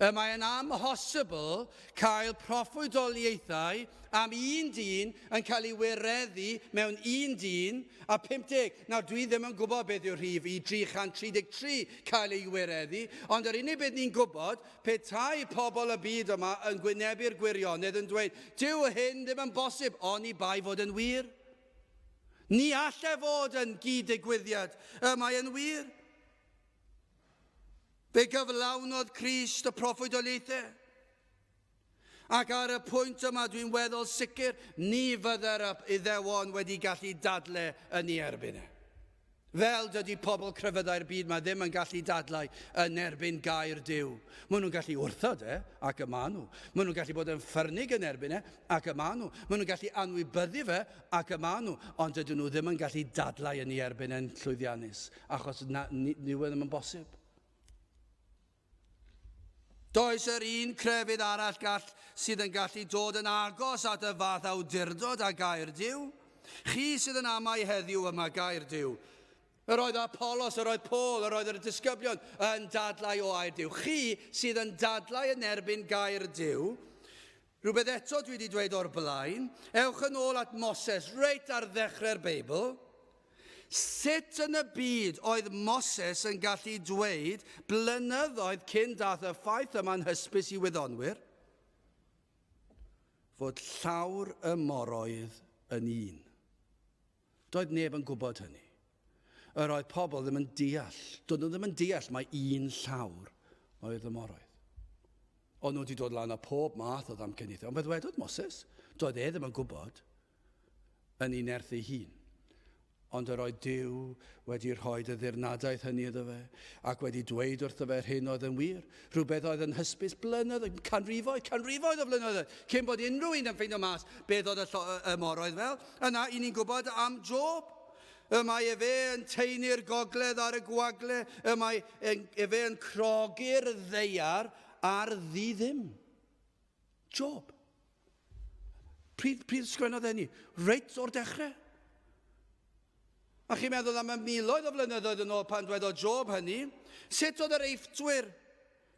[SPEAKER 1] Y mae yn amhosibl cael proffwydoliaethau am un dyn yn cael ei wireddu mewn un dyn a 50. Nawr, dwi ddim yn gwybod beth yw'r rhif i 333 cael ei wireddu, ond yr unig beth ni'n gwybod Petai pobl y byd yma yn gwynebu'r gwirionedd yn dweud, Dyw hyn ddim yn bosib, oni bai fod yn wir. Ni all e fod yn gyd-ddigwyddiad, y mae yn wir. Fe gyflawnodd Crist y proffwydoliaethau. Ac ar y pwynt yma, dwi'n weddol sicr, ni fydde'r Iddewon wedi gallu dadle yn ei erbyn e. Fel dydy pobl crefyddau'r byd mae ddim yn gallu dadlau yn erbyn gair Dyw. Maen nhw'n gallu wrthod e, ac y maen nhw. Maen nhw'n gallu bod yn ffyrnig yn erbyn e, ac y maen nhw. Maen nhw'n gallu anwybyddu fe, ac y maen nhw. Ond dydyn nhw ddim yn gallu dadlau yn ei erbyn e'n llwyddiannus, achos na, ni, ni ddim yn bosib. Does yr un crefydd arall gall sydd yn gallu dod yn agos at y fath awdurdod â Gaerdyw. Chi sydd yn amau heddiw yma Gaerdyw. Yr oedd Apolos, yr oedd Paul, yr oedd yr disgyblion yn dadlau o Aerdyw. Chi sydd yn dadlau yn erbyn Gaerdyw, Rhywbeth eto dwi 'di dweud o'r blaen, ewch yn ôl at Moses reit ar ddechrau'r Beibl. Sut yn y byd oedd Moses yn gallu dweud blynyddoedd cyn dath y ffaith yma'n hysbys i wyddonwyr fod llawr y moroedd yn un? Doedd neb yn gwybod hynny. Yr oedd pobl ddim yn deall. Doedd nhw ddim yn deall mae un llawr oedd y moroedd. O'n nhw wedi dod lan â pob math o ddamcaniaethau. Ond beth wedodd Moses? Doedd e ddim yn gwybod yn ei nerth ei hun. Ond yr oedd Dyw wedi rhoi y ddirnadaeth hynny iddo fe, ac wedi dweud wrtho fe rhyn oedd yn wir, Rhywbeth oedd yn hysbys blynydd, canrifoedd, canrifoedd o flynyddoedd, cyn bod unrhyw un yn ffeindio mas beth oedd y, y moroedd fel. Yna, i ni'n gwybod am Job. Y mae efe yn teini'r gogledd ar y gwagle, y mae efe yn crogi'r ddeiar ar ddi ddim. Job. Pryd, pryd sgwennodd enni? Reit o'r dechrau. A chi'n meddwl am y miloedd o flynyddoedd yn ôl pan dwedodd Job hynny, sut oedd yr eiffdwyr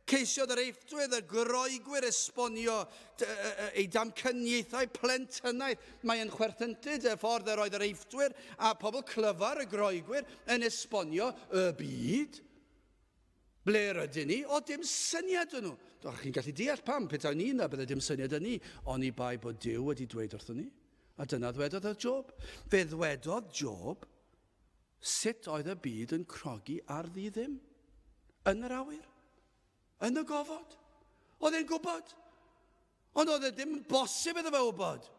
[SPEAKER 1] Ceisiodd yr eiffdwydd y groegwyr esbonio ei damcaniaethau plentynnaidd. Mae'n chwerthyntud y ffordd yr oedd yr eiffdwyr a pobl clyfar y groegwyr yn esbonio y byd. Ble rydyn ni? O, dim syniad dyn nhw. Doch chi'n gallu deall pam, petawn ni yna, bydde dim syniad yn ni, oni bai bod Duw wedi dweud wrthyn ni. A dyna ddwedodd y Job. Fe ddwedodd Job sut oedd y byd yn crogi ar ddi ddim. Yn yr awyr. Yn y gofod. Oedd e'n gwybod. Ond oedd e ddim yn bosib iddo fe wybod.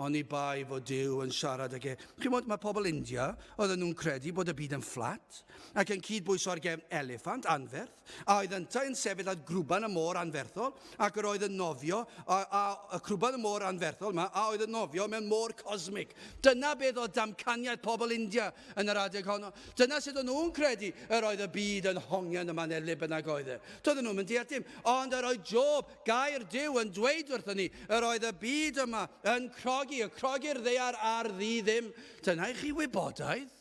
[SPEAKER 1] Oni bai fod Duw yn siarad ag e. Chi'n gwybod, mae pobl India, oedden nhw'n credu bod y byd yn fflat, ac yn cyd-bwyso ar gefn eliffant anferth, a oedd yntau yn sefyll ar grwban y môr anferthol, ac yr oedd yn nofio, a, a, y crwban y môr anferthol yma, a oedd yn nofio mewn môr cosmig. Dyna beth oedd damcaniaeth pobl India yn yr adeg honno. Dyna sut o'n nhw'n credu yr oedd y byd yn hongian yma neu le bynnag oedd e. Doedden nhw'n mynd deall dim. Ond yr oedd Job, Gair Duw yn dweud wrthon ni, yr oedd y byd yma yn crogi, y crogi'r ddear ar ddi ddim. Dyna i chi wybodaeth.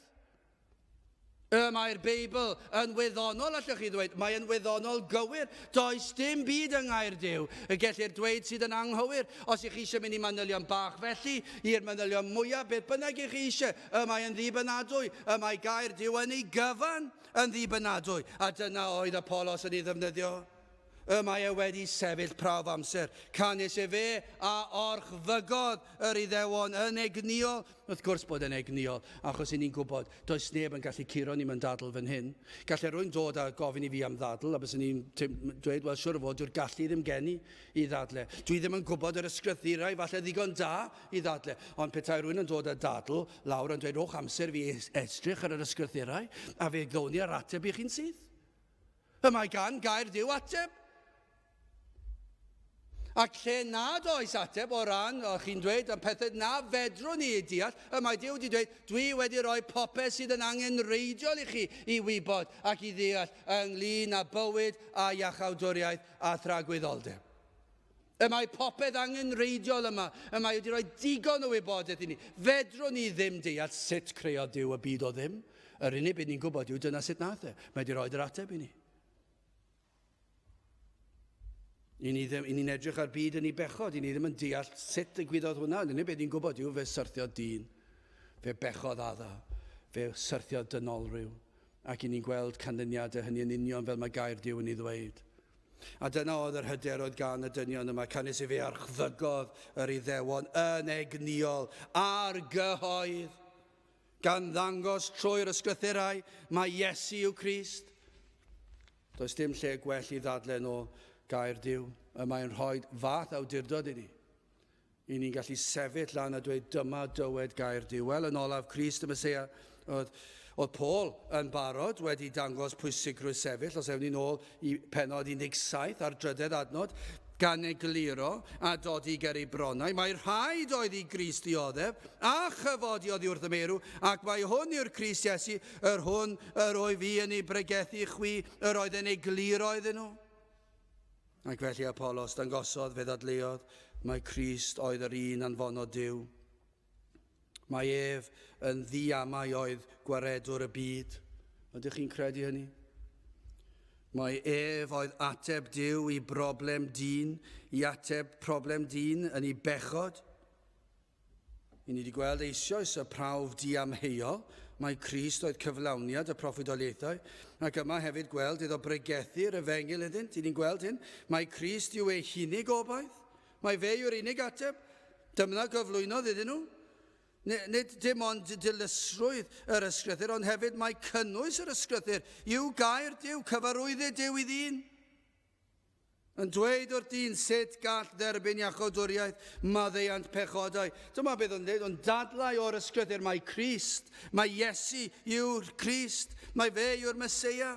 [SPEAKER 1] Y mae'r Beibl yn wyddonol, allwch chi ddweud, mae'n wyddonol gywir. Does dim byd yng Ngair Duw y gellir dweud sydd yn anghywir. Os ych chi eisiau mynd i manylion bach felly, i'r manylion mwyaf, beth bynnag ych chi eisiau, y mae yn ddibynadwy, y mae Gair Duw yn ei gyfan yn ddibynadwy. A dyna oedd Apollos yn ei ddefnyddio. Y mae e wedi sefyll prawf amser, canys efe a orchfygodd yr Iddewon yn egnïol, wrth gwrs bod e'n egnïol, achos i ni'n gwybod, does neb yn gallu curo ni mewn dadl fan hyn. Gallai rhywun dod a gofyn i fi am ddadl, a byswn i'n dweud, wel, siwr o fod, dyw'r gallu ddim gen i i ddadle. Dwi ddim yn gwybod yr ysgrythurau, falle ddigon da i ddadle, ond petai rhywun yn dod â dadl lawr a'n dweud, rhowch amser i fi edrych ar yr ysgrythurau, a fe gdown ni yr ateb i chi'n syth. Y mae gan gair Duw ateb. Ac lle nad oes ateb o ran, o chi'n dweud, am pethau na fedrwn ni eu deall, y mae Duw wedi dweud, dwi wedi rhoi popeth sydd yn angen reidiol i chi i wybod ac i ddeall ynglyn â bywyd a iachawdwriaeth a thragwyddoldeb. Y mae popeth angenrheidiol yma, y mae wedi rhoi digon o wybodaeth i ni. Fedrwn ni ddim deall sut creodd Duw y byd o ddim. Yr unig beth ni'n gwybod yw dyna sut nath e. Mae wedi rhoi yr ateb i ni. I ni, ddim, i ni'n edrych ar byd yn ei bechod, i ni ddim yn deall sut ddigwyddodd hwnna, ond unig beth ni'n gwybod yw fe syrthio dyn, fe bechodd adda, fe syrthio dynolryw, ac i ni'n gweld canlyniadau hynny yn union fel mae gair Dyw yn ei ddweud. A dyna oedd yr hyder oedd gan y dynion yma, canys i fe archddygodd yr Iddewon yn egnïol ar gyhoedd, gan ddangos trwy'r ysgrythurau mae Iesu yw Crist. Does dim lle gwell i ddadlen o gair Dyw, y mae'n rhoi fath awdurdod i ni. Ry'n ni'n gallu sefyll lan a dweud, Dyma dywed gair Duw. Wel, yn olaf, Crist y Meseia oedd, oedd Paul yn barod wedi dangos pwysigrwydd sefyll, os ewn ni'n ôl i penod 17 a'r drydedd adnod, gan egluro a dodi ger ei bronnau, mae rhaid oedd i Grist ddioddef, a chyfodi oddi wrth y meirw, ac mae hwn yw'r Crist Iesu, yr hwn yr wyf i yn ei bregethu i chwi, yr oedd yn egluro iddyn nhw. Ac felly Apolos dangosodd, fe ddadleuodd, mai Crist oedd yr un anfonodd Duw. Mai ef yn ddiamau oedd gwaredwr y byd. Ydych chi'n credu hynny? Mae ef oedd ateb Duw i broblem dyn, i ateb problem dyn yn ei bechod. I ni wedi gweld eisioes y prawf diamheuol, mai Crist oedd cyflawniad y proffwydoliaethau, ac yma hefyd gweld iddo bregethu yr efengyl iddynt, i ni'n gweld hyn, mai Crist yw ei hunig obaith, mai fe yw'r unig ateb, dymna gyflwynodd iddyn nhw. Nid dim ond dilysrwydd yr ysgrythyr, ond hefyd mae cynnwys yr ysgrythyr yw gair Dyw, cyfarwyddyd Dyw i ddyn. yn dweud wrth dyn sut gall dderbyn iachawdwriaeth maddeuant pechodau. Dyma beth o'n dweud, o'n dadlau o'r ysgrythyr mae Christ, mae Iesu yw'r Christ, mae fe yw'r Mesoea,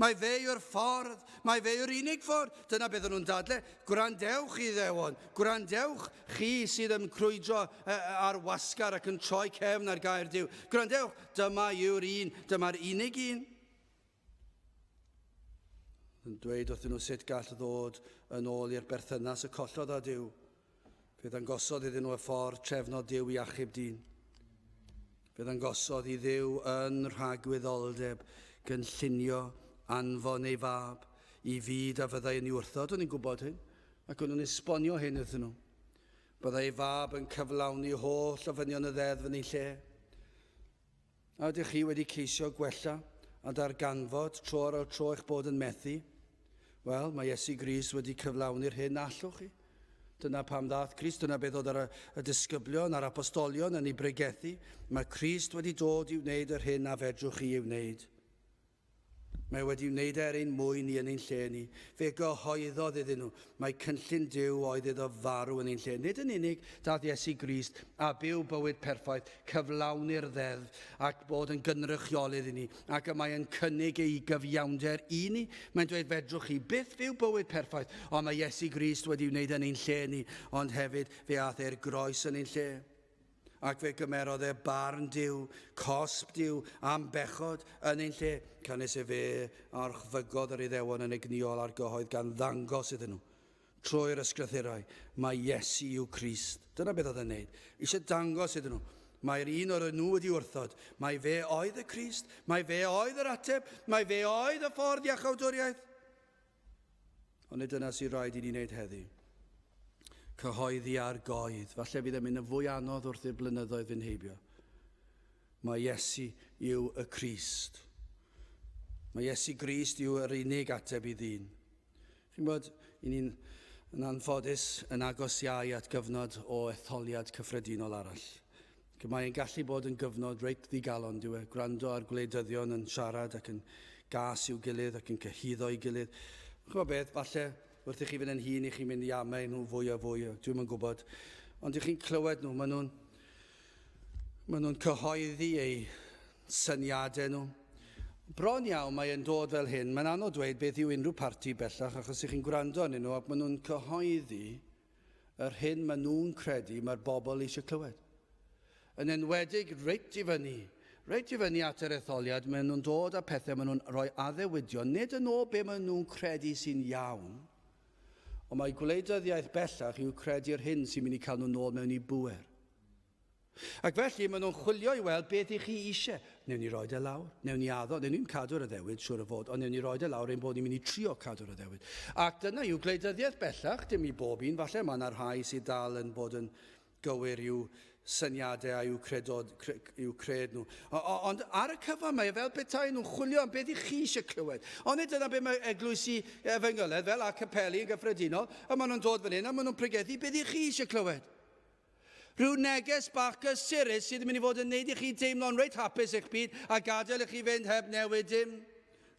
[SPEAKER 1] mae fe yw'r ffordd, mae fe yw'r unig ffordd. Dyna beth o'n nhw'n dadle. Gwrandewch i ddewon, gwrandewch chi sydd yn crwydro ar wasgar ac yn troi cefn ar gair Dyw. Gwrandewch, dyma yw'r un, dyma'r unig un. yn dweud wrthyn nhw sut gall ddod yn ôl i'r berthynas y collodd â Duw. Fe ddangosodd iddyn nhw y ffordd trefnod Duw i achub dyn. Fe ddangosodd i Dduw yn rhagwyddoldeb gynllunio anfon ei fab i fyd a fyddai yn ei wrthod, o'n i'n gwybod hyn, ac o'n nhw'n esbonio hyn iddyn nhw. Byddai ei fab yn cyflawni holl ofynion y ddeddf yn ei lle. A ydych chi wedi ceisio gwella a darganfod tro ar ôl tro eich bod yn methu? Wel, mae Iesu Grist wedi cyflawni'r hyn na allwch chi. Dyna pam ddaeth Crist, dyna beth oedd y disgyblion a'r apostolion yn ei bregethu. Mae Crist wedi dod i wneud yr hyn na fedrwch chi ei wneud. Mae wedi wneud er ein mwyn ni yn ein lle ni. Fe gyhoeddodd iddyn nhw mai cynllun Duw oedd iddo farw yn ein lle. Nid yn unig daeth Iesu Grist a byw bywyd perffaith, cyflawni'r ddeddf, ac bod yn gynrychiolydd i ni, ac y mae yn cynnig ei gyfiawnder i ni. Mae'n dweud, fedrwch chi byth fyw bywyd perffaith, ond mae Iesu Grist wedi wneud yn ein lle ni, ond hefyd fe aeth e'r groes yn ein lle. Ac fe gymerodd e barn Duw, cosb Duw, am bechod, yn ein lle, canys efe a orchfygodd yr Iddewon yn egnïol a'r gyhoedd gan ddangos iddyn nhw, trwy'r Ysgrythurau, mai Iesu yw Crist. Dyna beth oedd e'n neud. Eisiau dangos iddyn nhw, mae'r un o'r nhw wedi wrthod, mai fe oedd y Crist, mai fe oedd yr ateb, mai fe oedd y ffordd iachawdwriaeth. Ond nid dyna sy'n rhaid i ni wneud heddi. Cyhoeddi ar goed, falle bydd e'n mynd yn fwy anodd wrth i'r blynyddoedd fynd heibio. Mae Iesu yw y Crist. Mae Iesu Grist yw yr unig ateb i ddyn. Chi'n bod, i ni'n yn anffodus yn agos iau at gyfnod o etholiad cyffredinol arall. Ac mae'n gallu bod yn gyfnod reit ddigalon, dyw e, gwrando ar gwleidyddion yn siarad ac yn gas i'w gilydd ac yn cyhuddo'i gilydd. Chymod beth, falle wrth i chi fynd yn hun i chi'n mynd i amau nhw fwy a fwy, dwi ddim yn gwybod. Ond i chi'n clywed nhw, maen nhw'n maen nhw cyhoeddi eu syniadau nhw. Bron iawn mae e'n dod fel hyn, mae'n anodd dweud beth yw unrhyw parti bellach achos i chi'n gwrando arnyn nhw ac maen nhw'n cyhoeddi Yr hyn maen nhw'n credu mae'r bobl eisiau clywed. Yn enwedig reit i fyny, reit i fyny at yr etholiad, maen nhw'n dod â pethau maen nhw'n rhoi addewidion, nid yn ôl be maen nhw'n credu sy'n iawn, ond mae gwleidyddiaeth bellach yw credu'r hyn sy'n mynd i cael nhw'n ôl mewn i bŵer. Ac felly, maen nhw'n chwilio i weld beth i chi eisiau. Newn ni roed e lawr, newn ni addo, newn ni'm cadw'r addewid, siwr o fod, ond newn ni roed e lawr ein bod ni'n mynd i trio cadw'r addewid. Ac dyna yw gwleidyddiaeth bellach, dim i bob un, falle mae yna rhai sydd dal yn bod yn gywir i'w syniadau a'u credod, cre, i'w cred nhw. O, o, ond ar y cyfan mae e fel petai nhw'n chwilio am beth i chi eisiau clywed. Ond nid dyna beth mae eglwysi efengyledd, fel a capeli yn gyffredinol, a maen nhw'n dod fan hyn a maen nhw'n pregethu beth i chi eisiau clywed. Rhyw neges bach gysurus sydd yn mynd i fod yn neud i chi deimlo'n reit hapus eich byd a gadael i chi fynd heb newid dim.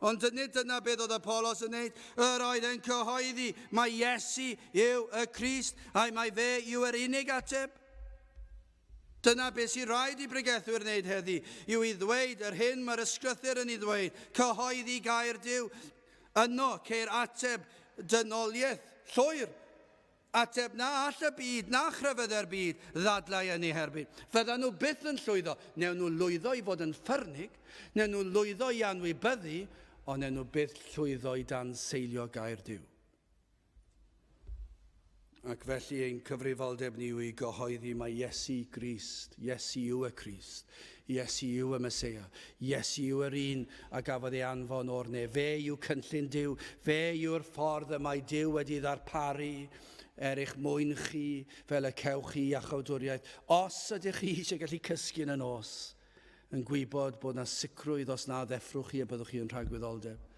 [SPEAKER 1] Ond nid dyna beth oedd Apolos yn neud. Yr oedd e'n cyhoeddi mae Iesu yw y Crist a'i mae fe yw yr unig ateb. Dyna beth sy'n rhaid i bregethwyr wneud heddi, yw i ddweud yr hyn mae'r ysgrythyr yn ei ddweud, cyhoeddi gair Dyw. Yno ceir ateb dynoliaeth llwyr. Ateb, na all y byd, na chrefydde'r byd ddadlau yn ei herbyn. Fyddan nhw byth yn llwyddo, newn nhw lwyddo i fod yn ffyrnig, newn nhw lwyddo i anwybyddu, ond newn nhw byth llwyddo i dan seilio gair Duw. Ac felly ein cyfrifoldeb ni yw i gyhoeddi mae Iesu Grist, Iesu yw y Crist, Iesu yw y Meseia. Iesu yw yr un a gafodd ei anfon o'r nef. Fe yw cynllun Duw. Fe yw'r ffordd y mae Duw wedi ddarparu er eich mwyn chi, fel y cewch chi iachawdwriaeth. Os ydych chi eisiau gallu cysgu yn y nos, yn gwybod bod na sicrwydd os na ddeffrwch chi y byddwch chi yn rhagwyddoldeb.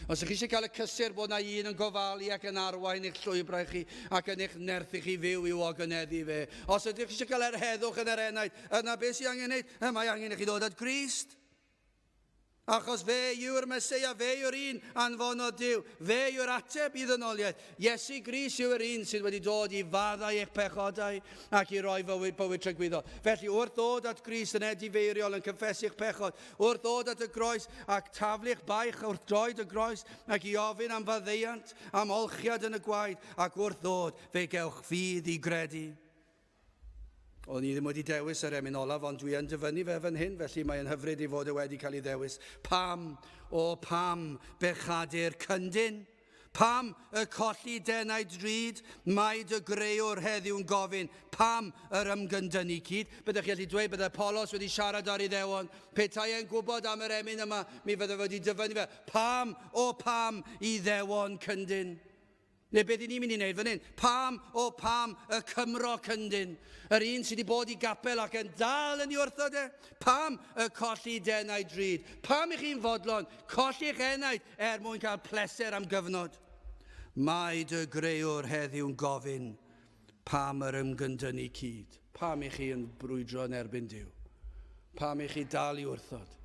[SPEAKER 1] Os ych chi eisiau cael y cysur bod na un yn gofalu ac yn arwain eich llwybrau chi ac yn eich nerthu chi fyw i'w ogoneddfu fe. Os ydych chi eisiau cael yr heddwch yn yr enaid, yna beth sy'n angen wneud? Y mae angen i chi ddod at Grist. Achos fe yw'r Mesoea, fe yw'r un anfonodd Dyw, fe yw'r ateb i ddynoliaeth. Iesu Gris yw'r un sydd wedi dod i faddau eich pechodau ac i roi fywyd, bywyd trygwyddo. Felly, wrth ddod at Gris yn edifeiriol yn cyffesu'ch pechod, Wrth ddod at y groes, ac taflu'ch baich wrth droed y groes, ac i ofyn am faddeuant, am olchiad yn y gwaed, ac wrth ddod, fe gewch fydd i gredu. O'n i ddim wedi dewis yr emyn olaf, ond dwi yn dyfynnu fe fan hyn, felly mae'n hyfryd ei fod e wedi cael ei ddewis. Pam, o pam, bechadu'r cyndyn? Pam y colli denau drud? Mae dy greuwr heddiw'n gofyn, pam yr ymgyndynnu cyd? Byddech chi'n gallu dweud byddai Polos wedi siarad â'r Iddewon. Petai e'n gwybod am yr emyn yma, mi fyddai wedi dyfynnu fe. Pam, o pam, Iddewon cyndyn? Neu beth i ni'n mynd i wneud fan hyn? Pam, o pam, y Cymro cyndyn? Yr un sydd wedi bod i gapel ac yn dal yn ei wrthod e? Pam y colli denau drud? Pam i chi'n fodlon colli'ch enaid Er mwyn cael pleser am gyfnod, mae dy greuwr heddiw'n gofyn, Pam yr ymgyndynnu cyd? Pam i chi yn brwydro yn erbyn Duw? Pam i chi dal i wrthod?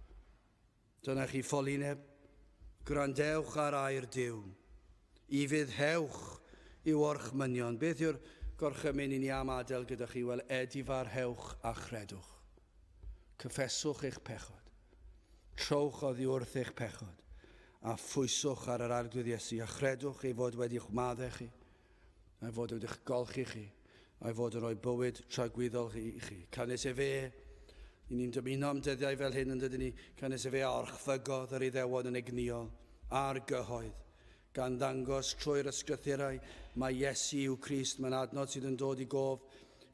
[SPEAKER 1] Dyna chi ffolineb, gwrandewch ar air Duw. Ifydd hewch i'w orchmynion. Beth yw'r gorchymyn i ni am adael gyda chi? Wel, edifarhewch a chredwch. Cyffeswch eich pechod. Trowch oddi wrth eich pechod, a phwyswch ar yr Arglwydd Iesu, a chredwch ei fod wedi'ch maddau chi, a'i fod wedi'ch golchi chi, a'i fod yn rhoi bywyd tragwyddol i chi. Canys efe, i ni'n dymuno am dyddiau fel hyn yn dydyn ni, canys efe a orchfygodd yr Iddewon yn egnïol, a'r gyhoedd, gan ddangos trwy'r Ysgrythurau mai Iesu yw Crist, mae'n adnod sydd yn dod i gof,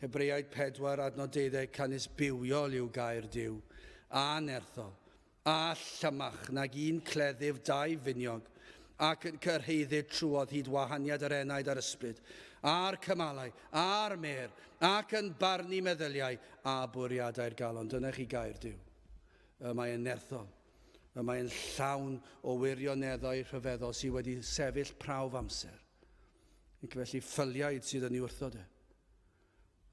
[SPEAKER 1] Hebreaid 4, adnod 12, canys bywiol yw gair Duw, a nerthol, a llymach nag un cleddyf dau finiog, ac yn cyrhaeddu trwodd hyd wahaniad yr enaid a'r ysbryd, a'r cymalau, a'r mêr, ac yn barnu meddyliau a bwriadau'r galon. Dyna chi gair Duw. Y mae yn nerthol. y mae'n llawn o wirioneddau rhyfeddol sydd wedi sefyll prawf amser. Ac felly ffyliaid sydd yn ei wrthod e.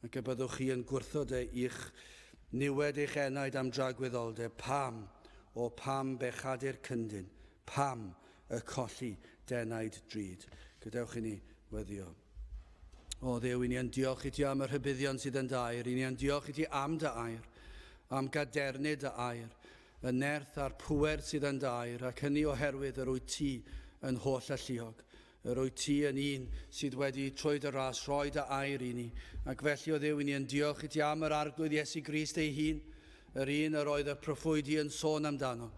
[SPEAKER 1] Ac y byddwch chi yn gwrthod e i'ch niwed eich enaid am dragwyddoldeb. Pam? O pam bechadu'r cyndyn? Pam y colli denaid drud? Gadewch i ni weddio. O Dduw, i ni yn diolch i ti am y rhybuddion sydd yn dair, i ni yn diolch i ti am dy air, am gadernid dy air, y nerth a'r pŵer sydd yn dair, ac hynny oherwydd yr wyt ti yn holl alluog. Yr wyt ti yn un sydd wedi trwy dy ras rhoi dy air i ni, ac felly o Dduw i ni yn diolch i ti am yr arglwydd Iesu Grist ei hun, yr un yr oedd y proffwydi yn sôn amdano,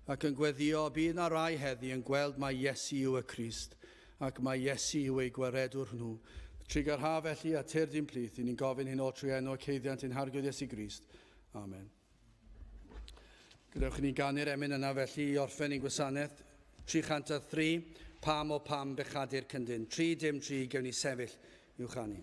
[SPEAKER 1] ac yn gweddio, bydd na rai heddi yn gweld mai Iesu yw y Crist, Ac mae Iesu yw eu gwaredwr nhw. Trigar ha felly a tyrd i'n plith, i ni'n gofyn hyn o trwy enw y ceiddiant ein harglwydd Iesu Grist. Amen. Gadewch i ni ganu'r emyn yna felly i orffen ein gwasanaeth. 303, pam o pam bechadur cyndyn. 3 dim 3, gewn ni sefyll i'w chanu.